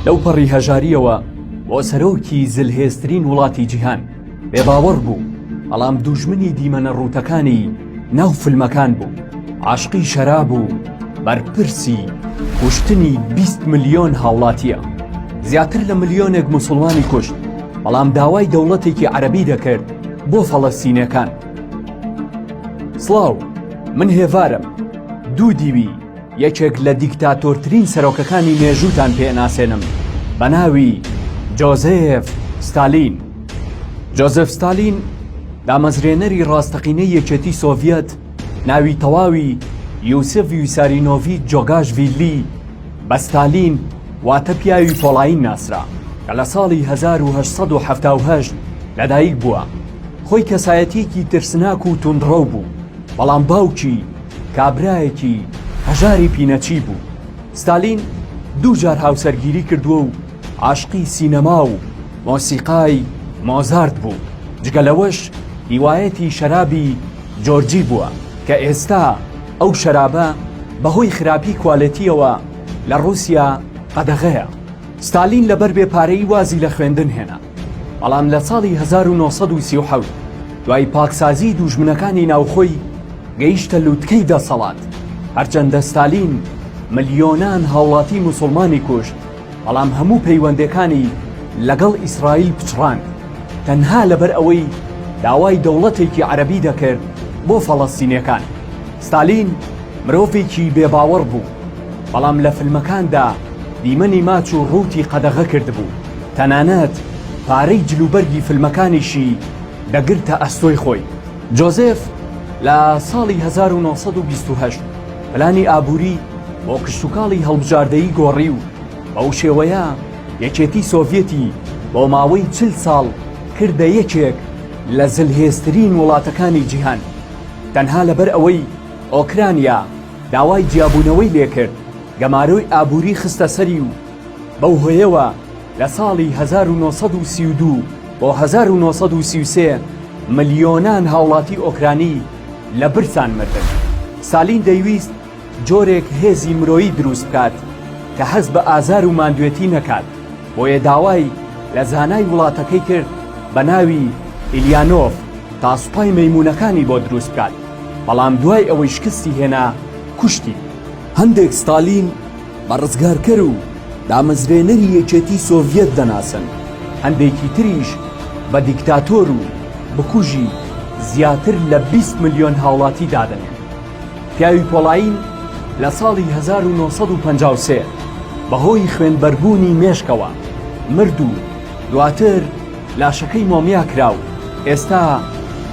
لەوپەڕی هەژارییەوە بۆ سەرۆکی زلهێزترین وڵاتی جیهان بێ باوەڕ بوو بەڵام دوژمنی دیمەنە ڕووتەکانی ناو فلمەکان بوو عاشقی شەرا بوو بەرپرسی کوشتنی 20 ملیۆن هاوڵاتیە زیاتر لە ملیۆنێک مسلمانی کوشت بەڵام داوای دەوڵەتێکی عەربی دەکرد بۆ فەڵەستینەکان سڵاو، من هێڤارم، دوو دیوی، یەکێک لە دیکتاتۆرترین سەرۆکەکانی مێژووتان پێ ئەناسێنم بە ناوی جۆزێف ستالین. جۆزێف ستالین دامەزرێنەری ڕاستەقینەی یەکێتی سۆڤیەت، ناوی تەواوی، یوسف ویسارینۆڤیچ جۆگاشڤیلی، بە ستالین واتە پیاوی پۆڵایین ناسرا کە لە ساڵی هەزار و هەشت سەد و حەفتا و هەشت لەدایک بووە. خۆی کەسایەتییەکی ترسناک و توندڕەو بوو، بەڵام باوکی کابرایەکی هەژاری پینەچی بوو. ستالین دوو جار هاوسەرگیری کردووە و عاشقی سینەما و مۆسیقای مۆزارت بوو، جگە لەوەش هیوایەتی شەرابی جۆرجی بووە کە ئێستا ئەو شەرابە بەهۆی خراپی کوالێتیەوە لە ڕووسیا قەدەغەیە ستالین لەبەر بێ پارەی وازی لە خوێندن هێنا بەڵام لە ساڵی 1970 دوای پاکسازی دوژمنەکانی ناوخۆی گەیشتە لووتکەی دەسەڵات هەرچەندە ستالین ملیۆنان هاوڵاتی موسڵمانی کوشت بەڵام هەموو پەیوەندێکانی لەگەڵ ئیسرائیل پچڕاند تەنها لەبەر ئەوەی داوای دەوڵەتێکی عەرەبی دەکرد بۆ فەڵەستینیەکان ستالین مرۆڤێکی بێ باوەڕ بوو بەڵام لە فلمەکاندا دیمەنی ماچ و ڕووتی قەدەغە کردبوو تەنانەت پارەی جلوبەرگی فلمەکانیشی دەگرتە ئەستۆی خۆی. جۆزێف لە ساڵی هەزار و نۆ سەد و بیست و هەشت پلانی ئابووری بۆ کشتوکاڵی هەڵبژاردەیی گۆڕی و بەو شێوەیە یەکێتی سۆڤیەتی بۆ ماوەی چل ساڵ کردە یەکێک لە زلهێزترین وڵاتەکانی جیهان تەنها لەبەر ئەوەی ئۆکرانیا داوای جیابوونەوەی لێکرد گەمارۆی ئابووری خستە سەری و بەو هۆیەوە لە ساڵی هەزار و نۆ سەد و سی و دوو بۆ هەزار و نۆ سەد و سی و سێ ملیۆنان هاوڵاتی ئۆکرانی لە برسان مردن. ستالین دەیویست جۆرێک هێزی مرۆیی دروست بکات کە هەست بە ئازار و ماندوێتی نەکات، بۆیە داوای لە زانای وڵاتەکەی کرد بە ناوی ئیلیانۆڤ تا سوپای مەیموونەکانی بۆ دروست بکات، بەڵام دوای ئەوەی شکستی هێنا کوشتی. هەندێک ستالین بە ڕزگارکەر و دامەزرێنەری یەکێتی سۆڤیەت دەناسن، هەندێکی تریش بە دیکتاتۆر و بکوژی زیاتر لە بیست ملیۆن هاوڵاتی دادەنێن. پیاوی پۆڵایین لە ساڵی هەزار و نۆ سەد و پەنجا و سێ بەهۆی خوێنبەربوونی مێشکەوە مرد و دواتر لاشەکەی مۆمیا کرا و ئێستا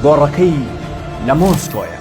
گۆڕەکەی لە مۆسکۆیە.